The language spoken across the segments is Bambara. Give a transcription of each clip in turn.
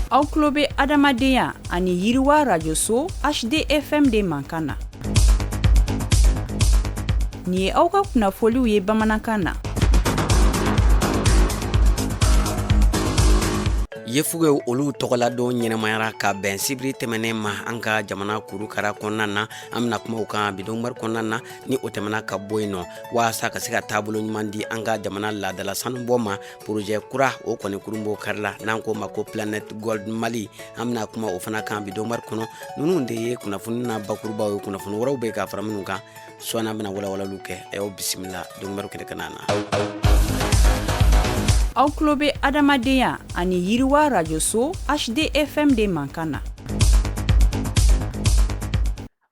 aw tulo bɛ adamadenya ani yiriwa rajoso hdfm de mankan na nin ye aw ka kunnafoliw ye bamanankan na yefugew olu tɔgɔladon ɲɛnamayara ka bɛn sibiri tɛmɛnen ma an ka jamana kurukara kɔnɔna na an bɛna kuma o kan bi donkibaru kɔnɔna na ni o tɛmɛna ka bɔ yen nɔ waasa ka se ka taabolo ɲuman di an ka jamana laadala sanubɔ ma porojɛ kura o kɔni kurunbonkarila n'an k'o ma ko planet gold mali an bɛna kuma o fana kan bi donkibaru kɔnɔ ninnu de ye kunnafoni na bakurubaw ye kunnafoni wɛrɛw bɛ yen ka fara minnu kan sɔɔni an bɛna walawalaliw kɛ a y'aw bisimila donkibaru kɛnɛ kanna na aw tulo bɛ adamadenya ani yiriwa rajoso hdfm de mankan na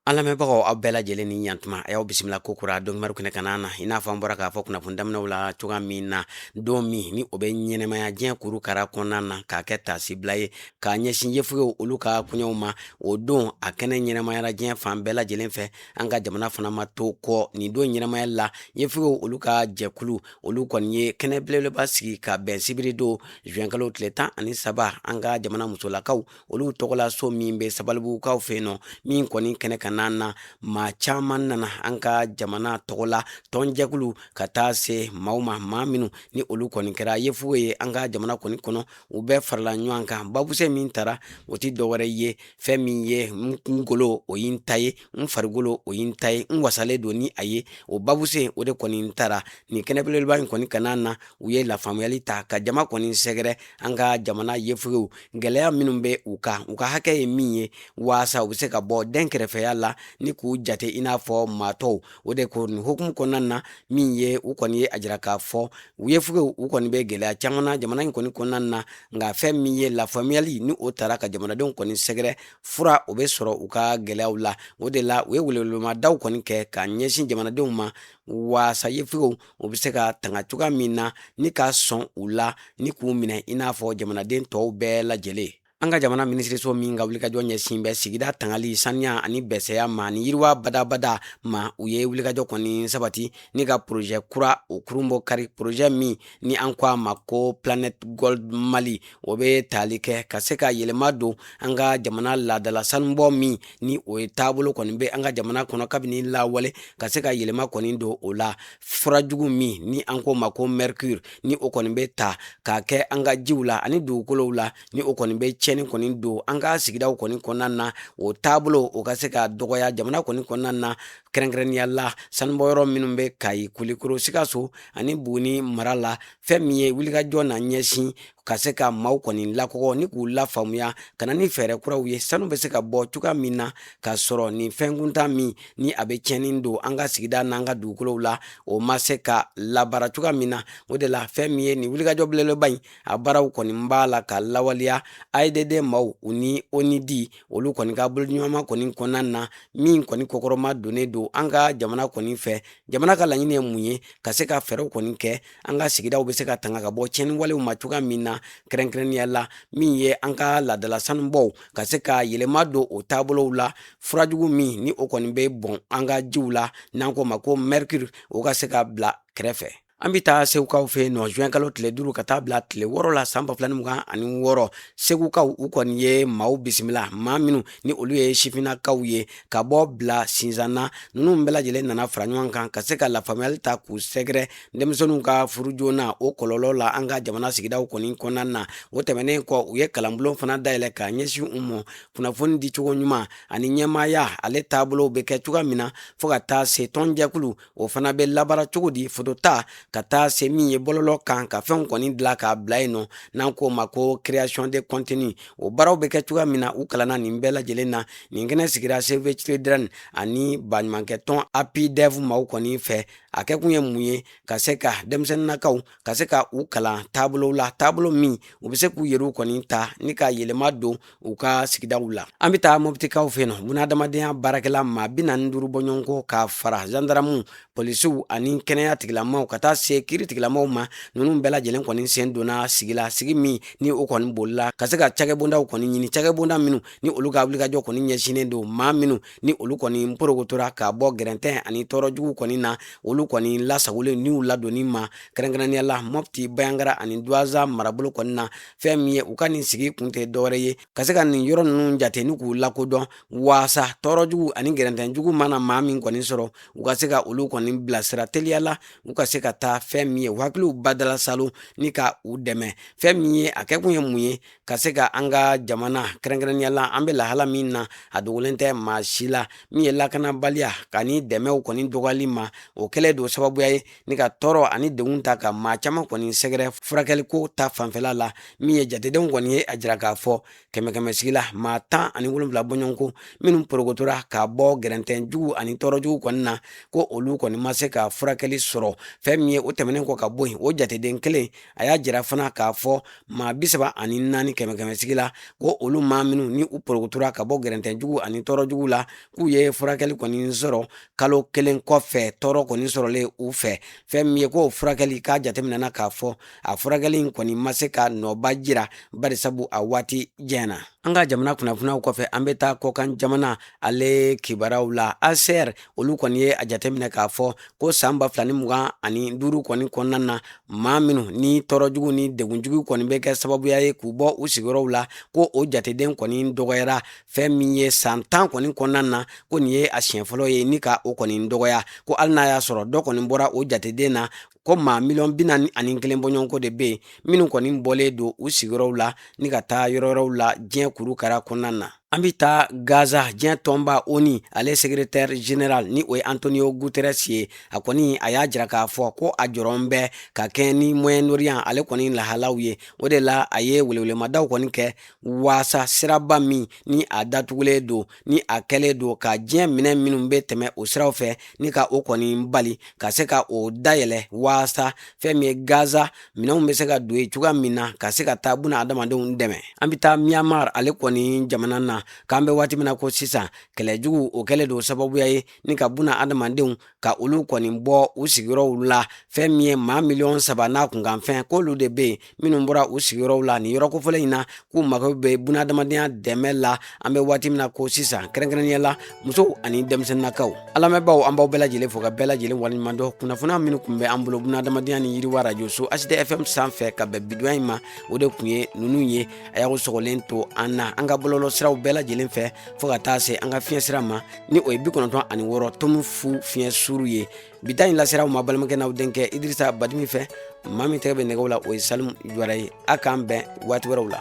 An lamɛnbagaw aw bɛɛ lajɛlen ni ɲantuma a y'aw bisimila ko kura donkibaru kɛnɛ kan na i n'a fɔ an bɔra k'a fɔ kunnafoni daminɛw la cogoya min na don min ni o bɛ ɲɛnamaya diɲɛ kurukara kɔnɔna na k'a kɛ taasibila ye k'a ɲɛsin yefugew olu ka koɲɛw ma o don a kɛnɛ ɲɛnamayara diɲɛ fan bɛɛ lajɛlen fɛ an ka jamana fana ma to kɔ nin don ɲɛnamaya la yefugew olu ka jɛkulu olu kɔni ye kɛnɛ belebeleba sigi ka bɛn sibiri don juin kalo tile tan ani saba an ka jamana musolakaw olu tɔgɔla so min bɛ sabalibugukaw fɛ yen nɔ min kɔni kɛnɛ kanna na maa caman nana an ka jamana tɔgɔ la tɔnjɛkulu ka taa se maaw ma maa minnu ni olu kɔni kɛra yefuge ye an ka jamana kɔni kɔnɔ u bɛɛ farala ɲɔgɔn kan babusɛ min taara o tɛ dɔwɛrɛ ye fɛn min ye n golo o ye n ta ye n farikolo o ye n ta ye n wasalen don ni a ye o babusɛ o de kɔni tara nin kɛnɛ belebeleba in kɔni kanna na u ye lafaamuyali ta ka jama kɔni sɛgɛrɛ an ka jamana yefugew gwɛlɛya minw bɛ u kan u ka hakɛ ye min ye waasa u bɛ se ka bɔ denkɛrɛfɛya la ni k'u jate i n'a fɔ maa tɔw o de kɔni hukumu kɔnɔna na min ye u kɔni ye a jira k'a fɔ u yefugew u kɔni bɛ gwɛlɛya caman na jamana in kɔni kɔnɔna na nka fɛn min ye lafaamuyali ni o tara ka jamanadenw kɔni sɛgɛrɛ fura o bɛ sɔrɔ u ka gɛlɛyaw la o de la u ye welewelemadaw kɔni kɛ ka ɲɛsin jamanadenw ma waasa yefugew u bɛ se ka tanga cogoya min na ni ka sɔn u la ni k'u minɛ i n'a fɔ jamanaden tɔw bɛɛ lajɛlen an ka jamana minisiriso min ka wulikajɔ ɲɛsin bɛ sigida tangali saniya ani bɛsɛya ma ni yiriwa badabada ma u ye wulikajɔ kɔni sabati ni ka porozɛ kura o kurunbonkari porozɛ min ni an ko a ma ko planet gold mali o bɛ tali kɛ ka se ka yɛlɛma don an ka jamana laadala sanubɔ min ni o ye taabolo kɔni bɛ an ka jamana kɔnɔ kabini lawale ka se ka yɛlɛma kɔni don o la fura jugu min ni an k'o ma ko mercure ni o kɔni bɛ ta k'a kɛ an ka jiw la ani dugukolow la ni o kɔni bɛ tiɲɛni kɔni don an ka sigidaw kɔni kɔnɔna na o taabolo o ka se ka dɔgɔya jamana kɔni kɔnɔna na kɛrɛnkɛrɛnnenya la sanubɔyɔrɔ minnu bɛ kayi kulikoro sikaso ani buguni mara la fɛn min ye wulikajɔ na ɲɛsin ka se ka maaw kɔni lakɔgɔ ni k'u lafaamuya ka na ni fɛɛrɛ kuraw ye sanu bɛ se ka bɔ cogoya min na ka sɔrɔ nin fɛnkuntan min ni a bɛ tiɲɛni don an ka sigida n'an ka dugukolow la o ma se ka labara cogoya min na o de la fɛn min ye nin wulikajɔ belebeleba in a baaraw kɔni b'a la ka lawaleya aedd maaw u ni onudi olu kɔni ka boloɲɔgɔnma kɔni kɔnɔna na min kɔni kɔkɔrɔma donnen don an ka jamana kɔni fɛ jamana ka laɲini ye mun ye ka se ka fɛɛrɛw kɔni kɛ an ka sigidaw bɛ se ka tanga ka bɔ tiɲɛni walew ma cogoya min na kɛrɛnkɛrɛnnenya la min ye an ka laadala sanubɔw ka se ka yɛlɛma don o taabolow la furajugu min ni o kɔni bɛ bɔn an ka jiw la n'an k'o ma ko mercure o ka se ka bila kɛrɛfɛ An bɛ taa segukaw fɛ yen nɔ juin kalo tile duuru ka taa bila tile wɔɔrɔ la san ba fila mugan ani wɔɔrɔ segukaw u kɔni ye maaw bisimila maa minnu ni olu ye sifinnakaw ye ka bɔ bila sinzana ninnu bɛɛ lajɛlen nana fara ɲɔgɔn kan ka se ka lafaamuyali ta k'u sɛgɛrɛ denmisɛnninw ka furu joona o kɔlɔlɔ la an ka jamana sigidaw kɔni kɔnɔna na o tɛmɛnen kɔ u ye kalanbulon fana dayɛlɛ ka ɲɛsin u ma kunnafoni dicogo ɲuman ani ɲɛmaaya ale taabolo bɛ kɛ cogoya min na fo ka taa se tɔnjɛkulu o fana bɛ labara cogo di foto ta ka taa se min ye bɔlɔlɔ kan ka fɛnw kɔni dilan k'a bila yen nɔ n'an k'o ma ko création de contenu o baaraw bɛ kɛ cogoya min na u kalanna nin bɛɛ lajɛlen na nin kɛnɛ sigira save children ani baɲumankɛ tɔn apidev maaw kɔni fɛ a kɛ kun ye mun ye ka se ka denmisɛnninnakaw ka se ka u kalan taabolo la taabolo min u bɛ se k'u yɛrɛw kɔni ta ni ka yɛlɛma don u ka sigidaw la an bɛ taa mɔbitikaw fɛ yen nɔ bunahadamadenya baarakɛla maa bi naani duuru bɔɲɔgɔnko ka fara zandaramuw polisiw ani kɛnɛya tigilamaaw ka taa se kiiri tigilamaaw ma ninnu bɛɛ lajɛlen kɔni sen donna sigi la sigi min ni o kɔni bolila ka se ka cakɛbondaw kɔni ɲini cakɛbonda minnu ni olu ka wulikajɔ kɔni ɲɛsinnen don maa minnu ni olu kɔni porokotora ka bɔ gɛrɛntɛn ani tɔɔrɔ jugu kɔni na olu kɔni lasagoli n'u ladonni ma kɛrɛnkɛrɛnnenya la mɔpti banjagara ani duwanza marabolo kɔni na fɛn min ye u ka nin sigi kun tɛ dɔwɛrɛ ye ka se ka nin yɔrɔ ninnu jate ni k'u lakodɔn waasa tɔɔrɔ jugu ani gɛrɛntɛn jugu mana maa min kɔni sɔrɔ u ka se ka olu kɔni bilasira teliya la u ka se ka taa fɛn min ye u hakiliw badala saalo ni ka u dɛmɛ fɛn min ye a kɛkun ye mun ye ka se ka an ka jamana kɛrɛnkɛrɛnnenya la an bɛ lahala min na a dogolen tɛ maa si la min ye lakanabaliya ka ni dɛmɛw kɔni dɔgɔyali ma o kɛlen don sababuya ye ni ka tɔɔrɔ ani degun ta ka maa caman kɔni sɛgɛrɛ furakɛliko ta fanfɛla la min ye jatedenw kɔni ye a jira k'a fɔ kɛmɛ kɛmɛ sigi la maa tan ani wolonwula bɔɲɔgɔnko minnu porokotora ka bɔ gɛrɛntɛn jugu ani tɔɔrɔ jugu kɔni na ko olu kɔni ma se ka furakɛli sɔrɔ fɛn min ye o tɛmɛnen kɔ ka bɔ yen o jateden kelen a y'a jira fana k'a fɔ maa bi saba ani naani kɛmɛ kɛmɛsigi la ko olu maa minnu ni u porokotora ka bɔ gɛrɛntɛjugu ani tɔɔrɔjugu la k'u ye furakɛli kɔni sɔrɔ kalo kelen kɔfɛ tɔɔrɔ kɔni sɔrɔlen u fɛ fɛn min ye k'o furakɛli k'a jateminɛna k'a fɔ a furakɛli in kɔni ma se ka nɔba jira barisabu a waati jɛna an ka jamana kunnafoniyaw kɔfɛ an bɛ taa kɔkan jamana ale kibaraw la hcr olu kɔni ye a jateminɛ k'a fɔ ko san ba fila ni mugan ani duuru kɔni kɔnɔna na maa minnu ni tɔɔrɔ jugu ni degun jugu kɔni bɛ kɛ sababuya ye k'u bɔ u sigiyɔrɔw la ko o jateden kɔni dɔgɔyara fɛn min ye san tan kɔni kɔnɔna na ko nin ye a siɲɛ fɔlɔ ye ni ka o kɔni dɔgɔya ko hali n'a y'a sɔrɔ dɔ kɔni bɔra o jateden na ko maa miliyɔn bi naani ani kelen bɔɲɔgɔnko de bɛ yen minnu kɔni bɔlen don u sigiyɔrɔw la ni ka taa yɔrɔ wɛrɛw la diɲɛ kurukara kɔnɔna na an bɛ taa gaza diɲɛ tɔnba onu ale secrétaire général ni o ye antonio guterres ye a kɔni a y'a jira k'a fɔ ko a jɔrɔn bɛ ka kɛɲɛ ni moyen orient ale kɔni lahalaw ye o de la a ye welewelemadaw kɔni kɛ waasa siraba min ni a datugulen don ni a kɛlen don ka diɲɛ minɛn minnu bɛ tɛmɛ o siraw fɛ ni ka o kɔni bali ka se ka o dayɛlɛ waasa fɛn min ye gaza minɛnw bɛ se ka don yen cogoya min na ka se ka taa buna adamadenw dɛmɛ an bɛ taa myanmar ale kɔni jamana na k'an bɛ waati min na ko sisan kɛlɛjugu o kɛlen don sababuya ye ni ka buna adamadenw ka olu kɔni bɔ u sigiyɔrɔw la fɛn min ye maa miliyɔn saba n'a kunkanfɛn k'olu de bɛ yen minnu bɔra u sigiyɔrɔw la nin yɔrɔ kofɔlen in na k'u mago bɛ bunadamadenya dɛmɛ la an bɛ waati min na ko sisan kɛrɛnkɛrɛnnenya la musow ani denmisɛnninnakaw an lamɛnbaaw an b'aw bɛɛ lajɛlen fo ka bɛɛ lajɛlen waleɲuman dɔn kunnafoniya minnu tun bɛ an bolo bunadamadenya ni yiriwa arajo so hdfm sanfɛ ka bɛn bidonya in ma o de tun ye ninnu ye a y'aw sɔgɔlen to an na an ka bɔlɔlɔ siraw bɛɛ lajɛlen fɛ fɔɔ ka taa se an ka fiɲɛ sira ma ni o ye bi kɔnɔntɔn ani wɔɔrɔ tomu fu fiɲɛ suru ye bi ta in lasera aw ma balimakɛ n'aw denkɛ idirisa badimi fɛ maa min tɛgɛ bɛ nɛgɛw la o ye salimu juwara ye a k'an bɛn waati wɛrɛw la